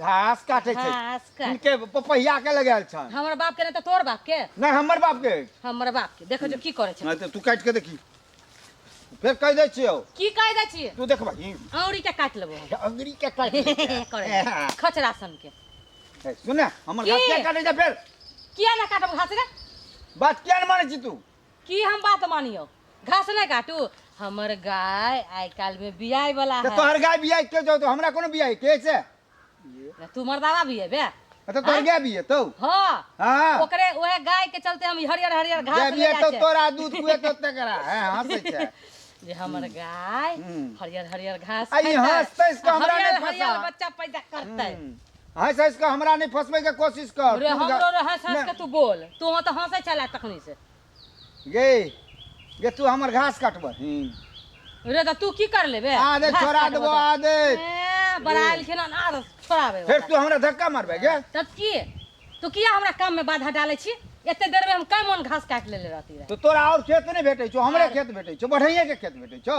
घास काटे छै घास काट इनके पपहिया के लगायल छन हमर बाप के ने त तोर बाप के नहीं हमर बाप के हमर बाप के देखो जो की करे छै नहीं तो तू काट के देखी फिर कह दे छियो की कह दे छी तू देखबा ही औरी के काट लेबो हम। अंगरी के काट ले छै। करे खचरा सन के ए, सुन ना, हमर की? घास के काटे जा फिर किया ना काटब घास रे बात किया न माने छी तू की हम बात मानियो घास नहीं काटू हमर गाय आइ काल में बियाय वाला तो है तोहर गाय बिया के जो तो हमरा कोनो बिया के से ना तू मर्दावा भी है बे तो तोहर गाय बिया तो हाँ हां ओकरे ओहे गाय के चलते हम ई हरियर हरियर घास गाय ले बिया जाय तो छै। तोरा दूध कुए तो तकरा है हंसै छै जे हमर गाय हम्म। हरियर हरियर घास आ ई खैतै, हँसतै से हमरा हरियर नहि हरियर फँसा। बच्चा पैदा करतै हम्म। हँस हँस के हमरा नहीं फंसबे के कोशिश कर अरे तू हमरो गा- रे हंस हंस के तू बोल तू तो हंसे चला तखनी से गे गे तू हमर घास काटबही रे तो तू की कर लेबे आदे घास छोड़ा काटबो देबो तो। आदे ए, बड़ाइल खेला ना आदत छोड़ाबे फिर वाला। तू हमरा धक्का मारबे गे तब की तू किया हमरा काम में बाधा डाले छी एते देर में हम कई मन घास काट लेले रहती रहे तो तोरा और खेत नहीं भेटे छो हमरे खेत भेटे छो बढ़ैया के खेत भेटे छो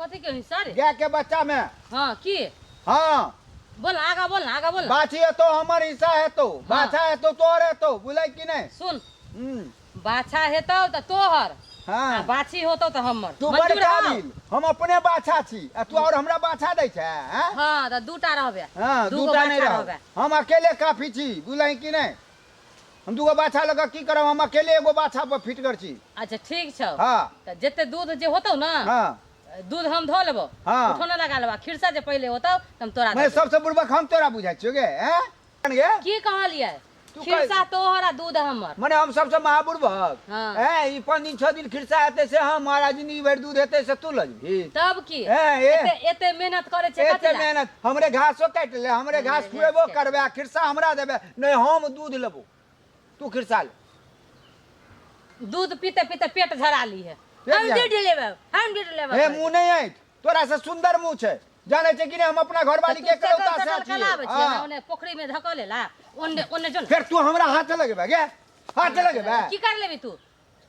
कथी के हिस्सा रे गाय के बच्चा में हाँ की हाँ बोल ना, आगा बोल ना आगा बोल ना। बाछी है तो हमर हिस्सा है तो बाछा है तो तोहर है तो बुझल कि नहीं सुन हम्म, बाछा हेतौ तऽ तोहर आ हाँ बाछी होतौ तऽ हमर तू मंजूर बड़का हौ? बिल हम अपने बाछा छी आ तू और हमरा बाछा दै छै हैं? हाँ तऽ दूटा रहबे हाँ दूगो दूटा नहीं बाछा रहो रहबे हम अकेले काफी छी बुझल कि नहीं हम दूगो बाछा लऽ कऽ की करब हम अकेले एगो बाछा पर फिटगर छी अच्छा ठीक छौ हँ तऽ जते दूध जे होतौ ने हँ दूध हम धो लेबो हँ। उठौना लगा लेबो आ खिरसा जे पहिले होतौ तऽ हम तोरा दऽ मैं देबो। सबसे बुड़बक हम तोरा बुझाइ छियो गे हैं जान गे की कहलियै तू खिरसा तोहर आ दूध हमर मने हम सबसे महा बुड़बक हँ। हैं ई पाँच दिन छह दिन खिरसा हेतै से हम महाराज जिंदगी भरि दूध हेतै से तू लऽ जेबही तब की हैं, ए। एते एते मेहनत करे छै एते कथी लए? मेहनत हमरे घासो काटि ले हमरे घास मेहनत खुएबो के। करबे आ खिरसा हमरा देबे नहि हम दूध लेबो तू खिरसा ले दूध पीते पीते पेट झरा ली है पेट हम झरा- डेढ़ लेबे हम डेढ़ लेबे हे मुंह नहीं आइत तोरा से सुंदर मुंह छै जाने छै कि नहीं हम अपना घरवाली के करौता से छियै कलाबे छै हाँ। ओने पोखरी में धकले ला ओने ओने जो ने। फेर तू हमरा हाथ लगेबे गे हाथ लगेबे की कर लेबी तू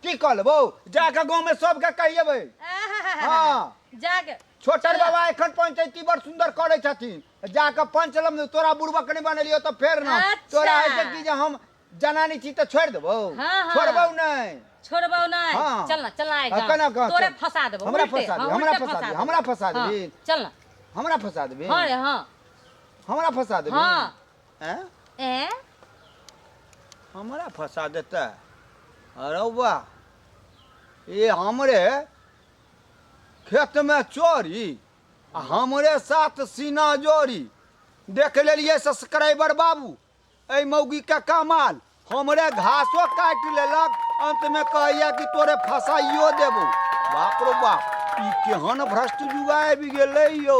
की कह लेबो जाके गाँव में सबके कहिएबै आहाहाहा। हाँ। जाके छोटन बाबा एखन पंचायती बड़ सुंदर करै छथिन जाके पंच लम दे, तोरा बुड़बक नहीं बनेलियो तो फेर ना अच्छा। तोरा है से की जे हम जनानी छी तो छोड़ देबो हाँ, हाँ। छोड़बो नहीं छोड़बो नहीं हाँ। चल ना चल ना एक हाँ, गाँव। कना गाँव, तोरे चल। फंसा देबो हमरा उल्टे, फंसा हाँ, दे, हमरा उल्टे फंसा दे, देबो। हमरा फंसा हाँ, देबी। चल ना हमरा फंसा देबे हाँ रे हाँ हमरा फंसा देबे हाँ हैं? ए हमरा फंसा देता अरे वाह ये हमरे खेत में चोरी आ हमरे साथ सीना जोड़ी देख लेलिए सब्सक्राइबर बाबू ए मौगी के कमाल हमरे घासो काट लेलक अंत में कहैया कि तोरे फसाइयो देबो बाप रो बाप ई केहन भ्रष्ट युवा आबि गेलै यौ